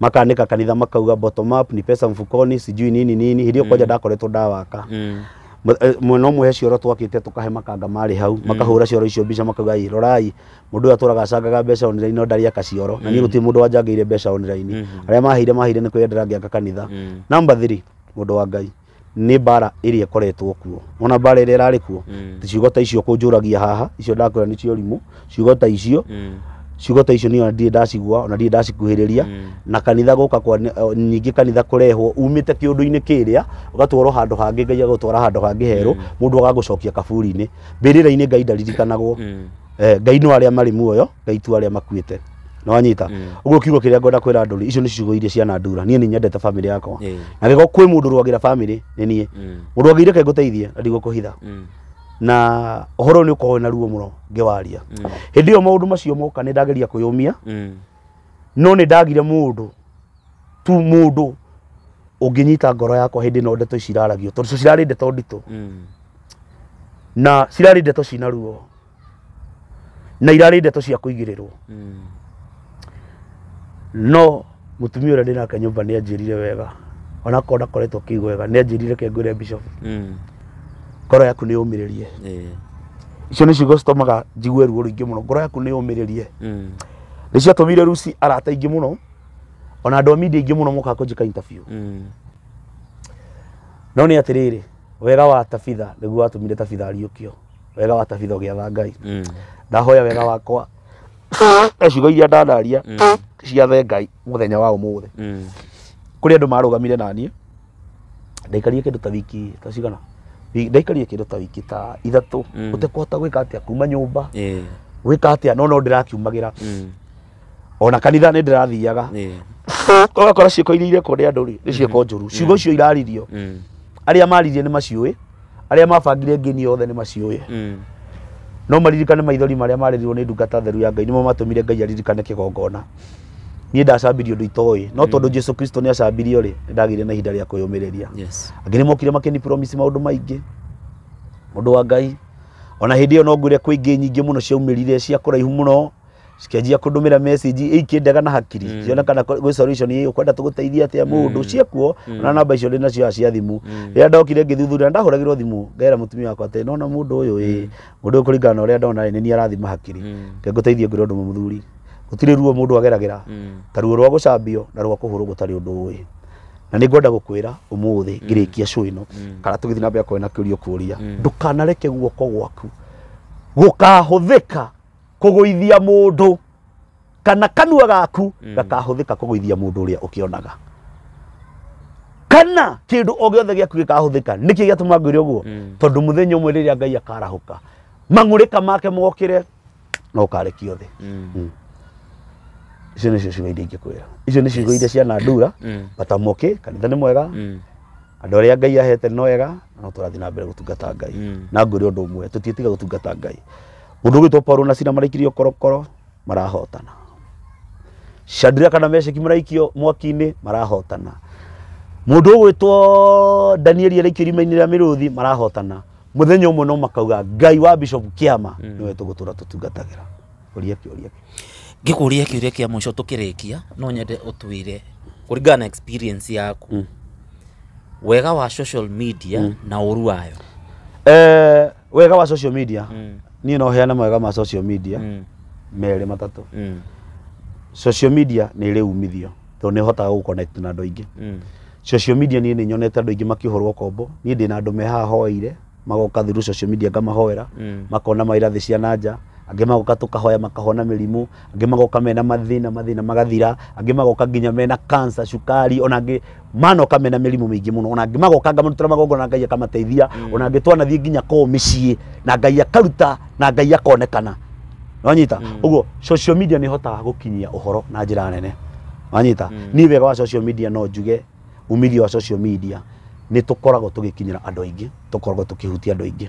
makanĩka kanitha makauga bottom up ni pesa mfukoni sijui nini nini hĩndĩ ĩyo kwanja ndakoretwo ndawaka Mm. Mwe- eh, mwena ũmwe he cioro twakĩte tũkahe makanga marĩ hau makahũra cioro icio mbica makauga "Ĩ, rorai mũndũ ũyũ atũraga acangaga mbeca online no ndarĩ aka cioro na niĩ gũtirĩ mũndũ wanjangĩire mbeca online arĩa maheire maheire nĩ kwĩyendera ngĩaka kanitha Mm. number 3 mũndũ wa ngai nĩ mbara ĩrĩa ĩkoretwo kuo ona mbara ĩrĩa ĩrarĩ kuo mm. ciugo ta icio kũnjũragia haha icio ndakwĩra nĩ cio rimũ ciugo ta icio mm. ciugo ta icio nĩyo ndirĩ ndacigua ona ndirĩ ndacikuhĩrĩria mm. na kanitha gũka kwa nyingĩ kanitha kũrehwo umĩte kĩũndũ-inĩ kĩrĩa ũgatwarwo handũ hangĩ ngai agũtwara handũ hangĩ herũ mm. mũndũ agagũcokia kaburi-inĩ mbĩrĩra-inĩ ngai ndaririkanagwo mm. eh, ngai no arĩa marĩ muoyo na itua arĩa makuĩte na wanyita mm. ũguo kiugo kĩrĩa ngwenda kwĩra ndũri icio nĩ ciugo iria ciana ndura niĩ nĩ nyendete famĩlĩ yakwa yeah. na gĩko kwĩ mũndũ rwagĩra famĩlĩ nĩ niĩ mm. mũndũ angĩire kaĩ ngũteithie na ndigũkũhitha mm. na ũhoro nĩ ũkoragwo na ruo mũno ngĩwaria mm. hĩndĩ ĩyo maũndũ macio moka nĩ ndageria kwĩyũmia mm. no nĩ ndagire mũndũ tu mũndũ ũngĩnyita ngoro yakwa hĩndĩ ĩno ndeto ici iraragio tondũ cirarĩ ndeto nditũ mm. na cirarĩ ndeto cina ruo na irarĩ ndeto cia kũigĩrĩrwo no mutumia ũrĩa ndĩnake nyũmba nĩ anjĩrire wega onakorwo ndakoretwo akĩigua wega nĩ anjĩrire ke ngwĩre bishop ngoro yaku nĩ yũmĩrĩrie icio nĩ ciugo citũmaga njigue ruo rũingĩ mũno ngoro yaku nĩ yũmĩrĩrie nĩ ciatũmire ruci arata aingĩ mũno ona andũ a media aingĩ mũno mokaga kũnjĩka interview no nĩ atĩrĩrĩ wega wa tabitha nĩguo watũmire tabitha ariũkio wega wa tabitha ũgĩatha ngai Mm. ndahoya wega wakwa na ciugo iria ndanaria Mm. ciathe ngai mũthenya wa ũmũthĩ Mm. kũrĩ andũ marũgamire naniĩ ndaikarire kĩndũ ta wiki ta cigana Wi- ndaikarire kĩndũ ta wiki ta ithatũ Mm. ũtekũhota gwĩka atĩa kuma nyũmba Eh. gwĩka atĩa no no ndĩrakiumagĩra Mm. ona kanitha nĩ ndĩrathiaga Ĩĩ. ũgakora ciĩko iria irekwo nĩ andũ rĩ nĩ ciĩko njũru ciugo icio iraririo Mm. arĩa maririe nĩ maciũĩ arĩa mabangire ngĩni yothe nĩ maciũĩ Mm. no maririkane maithori marĩa marĩrirwo nĩ ndungata theru ya ngai nĩmo matũmire ngai aririkane kĩgongona niĩ ndacambirie ũndũ itoĩ no tondũ jesu kristo nĩ acambirio rĩ nĩ ndagĩire na ihinda rĩa kwĩyũmĩrĩria Yes. angĩ nĩ mokire makĩni promise maũndũ maingĩ mũndũ wa ngai ona hĩndĩ ĩyo no ngwĩre kwĩ ingĩ nyingĩ mũno ciaumĩrire cia kũraihu mũno cikanjia kundumira message ikindaga na hakiri Mm. ciona kana gwĩ solution ĩ ukwenda tũgũteithie atĩa mũndũ Mm. ciakuo Mm. na namba icio ndĩ nacio cia thimũ Mm. rĩrĩa ndokire ngĩthuthuria ndahũragirwo thimũ ngera mũtumia wakwa atĩ nona mũndũ ũyũ ĩ mũndũ ũyũ kũringana na ũrĩa ndona ĩ nĩ niĩ arathima hakiri Mm. Reke ngũteithie ngwĩre ũndũ ũmwe mũthuri gũtirĩ ruo mũndũ ageragĩra Mm. ta ruo rwa gũcambio na rwa kũhũrwo gũtarĩ ũndũ ũĩ na nĩ ngwenda gũkwĩra ũmũthĩ ngĩrĩkia show ĩno Mm. kana tũgĩthiĩ na mbere kwena kĩũria kũria Mm. ndũkanareke guoko gwaku gũkahũthĩka kũgũithia mũndũ kana kanua gaku Mm. gakahũthĩka kũgũithia mũndũ ũrĩa ũkĩonaga kana kĩndũ o gĩothe gĩaku gĩkahũthĩka nĩkĩ gĩatũma ngwĩre ũguo Mm. tondũ mũthenya ũmwe rĩrĩa ngai akarahũka mang'ũrĩka make mokĩre na ũkarekio thĩ Mm. Mm. icio nĩcio ciugo iria ingĩkwĩra icio nĩ ciugo Yes. iria ciana ndura Mm. bata mũkĩ kanitha nĩ mwega Mm. andå arä a ngai ahete nĩ wega no tå rathiä na mbere gå tungata ngai Mm. na ngå rä å ndå å mwe tå tiä tiga gå tungata ngai Mũndũ ũgĩtwo Paulo na Sila maraikĩrio korokoro marahotana. Shadraka na Meshaki maraikio mwaki-inĩ marahotana. Mũndũ ũgwĩtwo Danieli araikio irima-inĩ rĩa mĩrũthi marahotana. Mũthenya ũmwe no makauga Ngai wa Bishop Kĩama nĩwe tũgũtũra tũtungatagĩra. Ũria kĩũria kĩu. ngĩkũria kĩũria kĩa mũico tũkĩrĩkia no nyende ũtwĩre kũringana na experience yaku wega wa social media na ũru wayo Eh, wega wa social media Mm. niĩ no heane mawega ma social media Mm. merĩ matatũ Mm. social media nĩ ĩrĩ umithio tondũ nĩ hotaga gũ connect na andũ aingĩ Mm. social media niĩ nĩ nyonete andũ aingĩ makĩhũrwo kombo niĩ ndĩ na andũ me haha hoeire magoka through social media ngamahoera Mm. makona maira thĩ cia nanja angĩ magoka tũkahoya makahona mĩrimũ angĩ magoka mena mathĩna mathĩna magathira angĩ magoka nginya mena cancer cukari ona angĩ mana ũkamena mĩrimũ mĩingĩ mũno ona angĩ magoka ngamarutĩra magongona ngai akamateithia ona angĩ twanathiĩ nginya kwao mĩciĩ na ngai akaruta na ngai akonekana wanyita ũguo social media nĩ ĩhotaga gũkinyia ũhoro na njĩra nene wanyita niĩ wega wa social media no njuge umithio wa social media nĩ tũkoragwo tũgĩkinyĩra andũ aingĩ tũkoragwo tũkĩhutia andũ aingĩ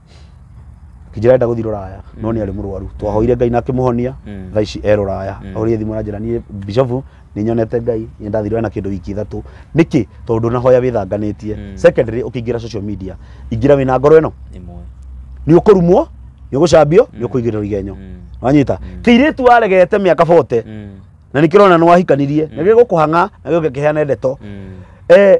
Kinjira enda guthii ruraya no ni ari murwaru twahoire ngai na akimuhonia tha ici e ruraya ahorie thimu aranjira nie bishofu ninyonete ngai nie ndathirwe ena kindu wiki ithatu niki tondu ndunahoya withanganitie secondly ukiingira social media ingira wina ngoro ino ni ukurumwo ni ugucambio ni ukuigirira igenyo wanyita kiritu aregete miaka 40 na nikirona ni wahikanirie na gigukuhanga na gigukiheana ndeto eh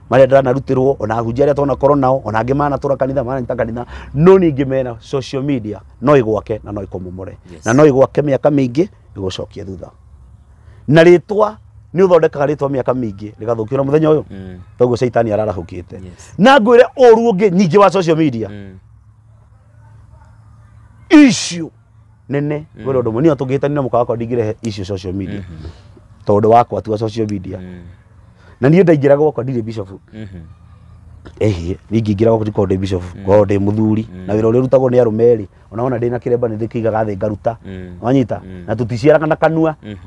marĩa ndanarutĩrwo ona ahunjia arĩa tonakorwo nao ona angĩ manatũra kanitha mananyita kanitha no ningĩ mena social media no ĩgwake na no ĩkũmomore Yes. na no ĩgwake mĩaka mĩingĩ ĩgũcokie thutha na rĩtwa nĩ ũthondekaga rĩtwa mĩaka mĩingĩ rĩgathũkio na mũthenya ũyũ Mm. toguo caitani ararahũkĩte Yes. na ngwĩre ũru ũngĩ nyingĩ wa social media Mm. issue nene mm. wena ndomo niyo tugitani na muka wakwa ndingire issue social media mm -hmm. tondu wakwa tu social media mm. na niyo ndaingira gwakwa ndire bishop mm -hmm. ehe ningingĩra gwaku ndikorwo ndĩ bishop mm. ngorwo ndĩ mũthuri mm. na wĩra ũrĩa ũrutagwo nĩ arũme erĩ ona wona ndĩ na kĩremba nĩ ndĩkĩigaga thĩ ngaruta mm. wanyita na tũticiaraga na kanua mm-hmm.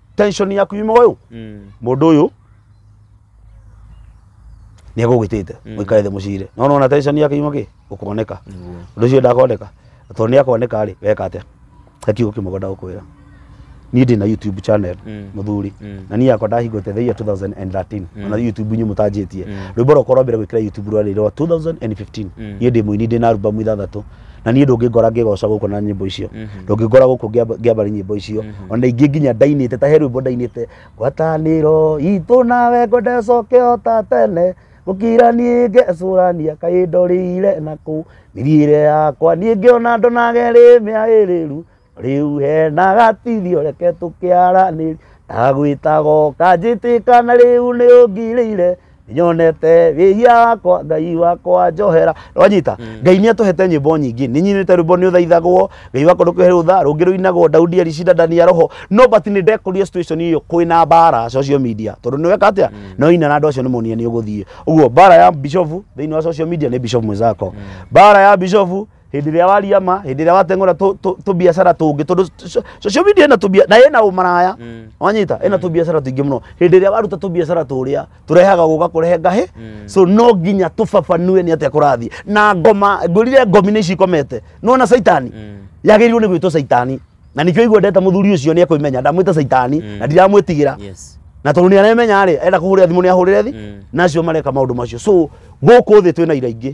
tension yaku yuma uyu Mm. mundu uyu ni agugitite Mm. muikare thi mucire no nona tension yake yuma ki gukoneka Niguo. undu ucio ndakoneka tondu ni akoneka ri weka atia akiugo kimwe ngwenda gukwira ni ndi na youtube channel Mm. muthuri Mm. na ni yakwa ndahingũte the year 2013 Mm. ona youtube inyu mutanjĩtie Mm. rwĩmbo rwakwa rwa mbere gwĩkĩra youtube rwarĩ rwa 2015 Mm. niĩ ndĩ mũini ndĩ na albamu ithathatũ na niĩ ndũngĩngora ngĩgoca gũkũ na nyĩmbo icio mhm. ndũngĩngora gũkũ ngĩambari nyĩmbo icio mhm. ona ingĩ nginya ndainĩte ta he rwĩmbo ndainĩte ngwatanĩro itũ nawe ngwenda coke o ta tene gũkira niĩ ngecũrania kaĩ ndorĩire nakũ mĩthiĩre yakwa niĩ ngĩona ndonaga ĩrĩ mĩagĩrĩru rĩu hena gatithio reke tũkĩaranĩria ndagwĩtaga ũkanjĩtĩka na rĩu nĩ ũngirĩire nyonete wĩhia wakwa ngai wakwa njohera wanyita ngai nĩ atũhete nyĩmbo nyingĩ nĩ nyinĩte rwĩmbo nĩ ũthaithagwo ngai wakwa ndũkĩhe rũtha rũngĩ rũinagwo daudi aricida ndani ya roho no but nĩ ndekorire situation iyo kwĩna mbara social media tondũ nĩ weka atĩa no ina na andũ acio nĩ monie nĩ ũgũthiĩ ũguo mbara ya bishofu thĩinĩ wa social media nĩ bishofu mwĩzako mbara ya bishofu hĩndĩ ĩrĩa waria ma hĩndĩ ĩrĩa wateng'ũra tũ- tũ- tũbiacara tũngĩ tondũ so- social media ĩna tũbia na ĩna ũmaraya Mm. wanyita ĩna tũbiacara tũingĩ mũno hĩndĩ ĩrĩa waruta tũbiacara tũrĩa tũrehaga gũka kũrehe ngahĩ Mm. so no nginya tũbabanue nĩ atĩa kũrathiĩ na ngoma ngũrire ngomi nĩ ici ikomete nona caitani Mm. yagĩrĩirwo nĩ gwĩtwo caitani na nĩkĩo igua ndeta mũthuri ũcio nĩ ekũimenya ndamwĩta caitani Mm. na ndiramwĩtigĩra yes na tondå nä aremenya rä enda kå hå rä ra thimå nä ahå rä re thi Mm. nacio mareka maå ndå macio so gå kå thä twä na ira ingä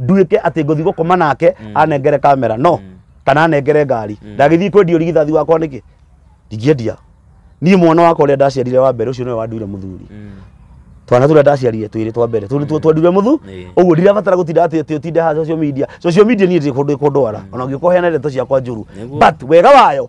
nduĩke atĩ ngũthiĩ gũkoma nake anengere kamera no kana anengere ngari ndagĩthiĩ kwendia ũrigithathi wakwa nĩkĩ ndingĩendia niĩ mwana wakwa ũrĩa ndaciarire wa mbere ũcio nĩwe wanduire mũthuri twana tũrĩa ndaciarire twĩrĩ twa mbere tũrĩ tuo twendire mũthu Ĩĩ. ũguo ndirabatara gũtinda atĩ atĩ ũtinde ha social media social media niĩ ndĩ kũndũ kũndwara ona ũngĩkorwo heana ndeto ciakwa njũru Nĩguo. but wega wayo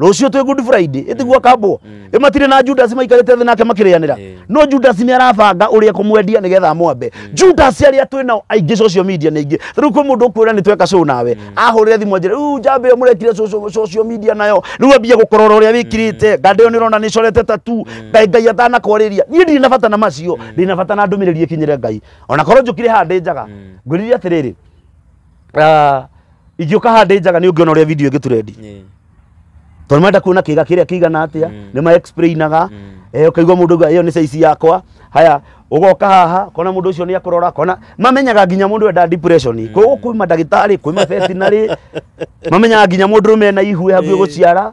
rũciũ twĩ good friday ĩtigua kambwo ĩ matirĩ na judas maikarĩte thĩ nake makĩrĩanĩra Ĩĩ. no judas nĩ arabanga ũrĩa kũmwendia nĩgetha amwambe judas arĩa twĩ nao aingĩ social media nĩ aingĩ rĩu kwĩ mũndũ ũkwĩra nĩ tweka show nawe ahũrĩre thimũ anjĩre rĩu njamba ĩyo mũrekire socio- social media nayo rĩu ambia gũkorora ũrĩa wĩkirĩte nganda ĩyo nĩ ũrona nĩ corete tatu ngai ngai atanakwarĩria niĩ ndirĩ na bata na macio ndĩ na bata na ndũmĩrĩri ĩkinyĩre ngai ona korwo njũkire haha ndĩ njaga ngwĩrire atĩrĩrĩ Ah, ingĩũka haha ndĩ njaga nĩ ũngĩona ũrĩa video ĩngĩturendi Ĩĩ. tondũ marenda kuona kĩga kĩrĩa kĩigana atĩa Mm. nĩ ma explainaga Mm. eh, ũkaigua mũndũ auga ĩyo nĩ caici yakwa haya ũgoka haha kona mũndũ ũcio nĩ akũrora kona mamenyaga nginya mũndũ enda depression mm. koguo kwĩ mandagĩtarĩ kwĩ mabetinarĩ mamenyaga nginya mũndũ ũrũme ena ihue hakuhĩ Ĩĩ. gũciara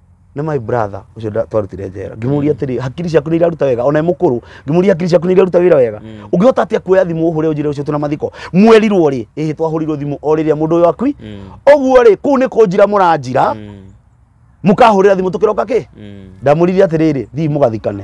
nĩ my brother ũcio nda- twarutire njera ngĩmũria atĩrĩ hakiri ciaku nĩ iraruta wega ona e mũkũrũ ngĩmũria hakiri ciaku nĩ iraruta wĩra wega ũngĩhota atĩa kuoya thimũ ũhũre ũnjĩre ũcio twĩna mathiko mwerirwo rĩ ĩhĩ twahũrirwo thimũ o rĩrĩa mũndũ ũyũ akui ũguo rĩ kũu nĩ kũnjira mũranjira mũkahũrĩra thimũ tũkĩroka kĩ ndamũririe atĩrĩrĩ thiĩ mũgathikane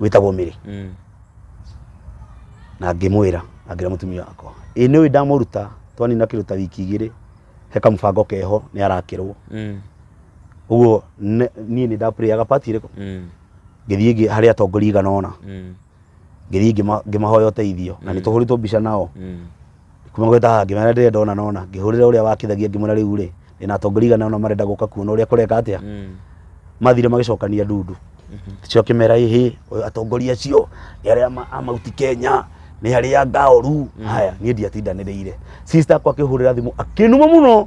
wĩtagwo mĩrĩ Mm. na ngĩmwĩra angĩra mũtumia wakwa ĩ nĩ ũĩ ndamũruta twanina kĩndũ ta wiki igĩrĩ he kamũbango keho nĩ arakĩrwo Mm. ũguo ne- niĩ nĩ ndapurĩaga pati ĩrĩkũ Mm. ngĩthiĩ ngĩ- harĩ atongoria igana ũna Mm. ngĩthiĩ ngĩma- ngĩmahoya ũteithio na nĩ tũhũrĩtwo mbica nao kuma gweta haha ngĩmera ndĩrenda ona na ona ngĩhũrĩra ũrĩa wakithagia ngĩmwĩra rĩu rĩ ndĩna atongoria igana ona marenda gũka kuona ũrĩa kũreka atĩa mathire magĩcokania ndundu cio kĩmera ĩhĩ ũyũ atongoria acio nĩ arĩa ma- a mauti kenya nĩ arĩa ngaoru haya niĩ ndiatindanĩrĩire sister akwa akĩhũrĩra thimũ akĩnuma mũno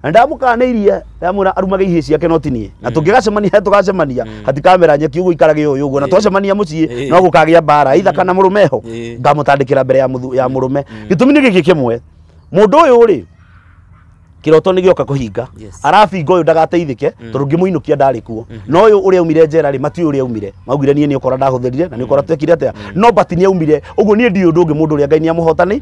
na ndamukanĩirie ndamwira arumage ihĩ ciake no tinie na tũngĩgacemania harĩa tũgacemania hatikamera nyeki ũguo ikarage ũyũ ũguo na twacemania mũciĩ Eh. no gũkagĩa mbara itha kana mũrũme ho Eh. ngamũtandĩkĩra mbere ya mũthu- ya mũrũme gĩtũmi nĩ gĩkĩ kĩmwe mũndũ ũyũ rĩ kĩroto nĩ gĩoka kũhinga Yes. arabinga ũyũ ndagateithĩke tondũ ngĩmũinũkia ndarĩ kuo no ũyũ ũrĩa aumire njera rĩ matiũ ũrĩa aumire maugire niĩ nĩ ũkora ndahũthĩrire na nĩ ũkora twekire atĩa no but nĩ aumire ũguo niĩ ndiũ ũndũ ũngĩ mũndũ ũrĩa ngai nĩ amũhotani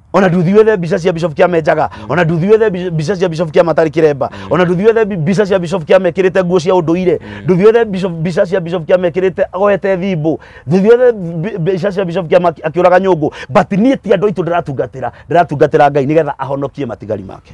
ona nduthiwethe mbica cia bishop kia menjaga ona nduthiwethe mbi- mbica cia bishop kia matari kiremba ona nduthiwethe mbi- mbica cia bishop kia mekirite nguo cia unduire nduthiwethe bishop- mbica cia bishop kia mekirite agoete thimbu nduthiwethe mbi- mbica cia bishop kia maki- akiuraga nyungu but nie ti andu aitu ndiratungatira ndiratungatira ngai nigetha ahonokie matigari make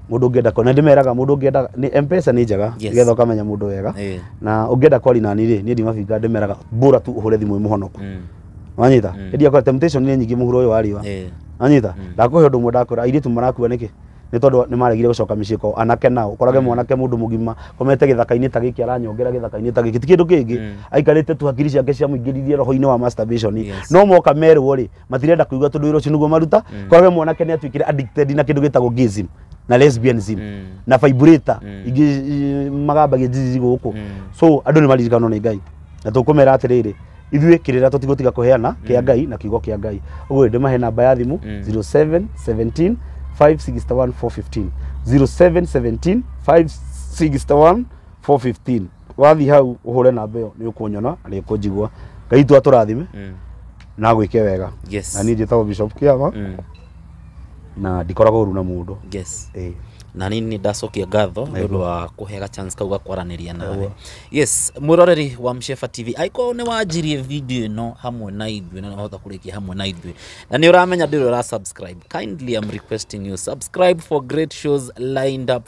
mũndũ ũngĩenda kwa na ndĩmeraga mũndũ ũngĩenda nĩ mpesa nĩ njega Yes. nĩgetha ũkamenya mũndũ wega Eh. na ũngĩenda kwaria nani rĩ niĩ ndimabinga ndĩmeraga bora tu ũhũre thimũ ĩ mũhonoku Mm. wanyita Mm. hĩndĩ yakwa temptation nĩ nyingĩ mũhuro ũyũ wa riũa Eh. anyita Mm. ndakũhe ũndũ ũmwe ndakwĩra airĩtu marakua nĩkĩ nĩ tondũ nĩ maregire gũcoka mĩciĩ kwao anake nao ũkorage mwanake mũndũ mũgima komete gĩthaka-inĩ ta gĩkĩ aranyongera gĩthaka-inĩ ta gĩkĩ ti kĩndũ kĩngĩ Mm. aikarĩte tu hakiri ciake ciamũingĩririe roho-inĩ wa masturbation Yes. no moka merwo rĩ matirenda kuigua tondu wira ucio niguo maruta Mm. kwa we mwanake ni atuikire addicted na kindu gitagwo gayism na lesbianism Mm. na vibrator Mm. ingi i- magambagia njici guku Mm. so andu ni maririkanwo ni ngai na tukumera atiriri ithuĩ kĩrĩra tũtigũtiga kũheana kĩa Mm. ngai na kiugo kĩa ngai ũguo ndĩ mahe namba ya thimũ Mm. 07 17 561 415 07 17 561 415 wathiĩ hau ũhũre namba ĩyo nĩ ũkũnyona na nĩ ũkũnjigua ngai tu atũrathime Mm. na gwĩke wega Yes. na niĩ njĩtagwo bishop kĩama Mm. na ndikoragwo ũru na mũndũ Yes. Eh, na nĩ nĩ ndacokia ngatho nĩ ũndũ wa kũhega chance kau gakwaranĩria nawe yes mwĩroreri wa msheba tv aiko nĩ wanjirie video ĩno hamwe na ithuĩ na nĩ wahota kũrĩkia hamwe na ithuĩ na nĩ ũramenya ndĩrĩ ũra subscribe kindly am requesting you subscribe for great shows lined up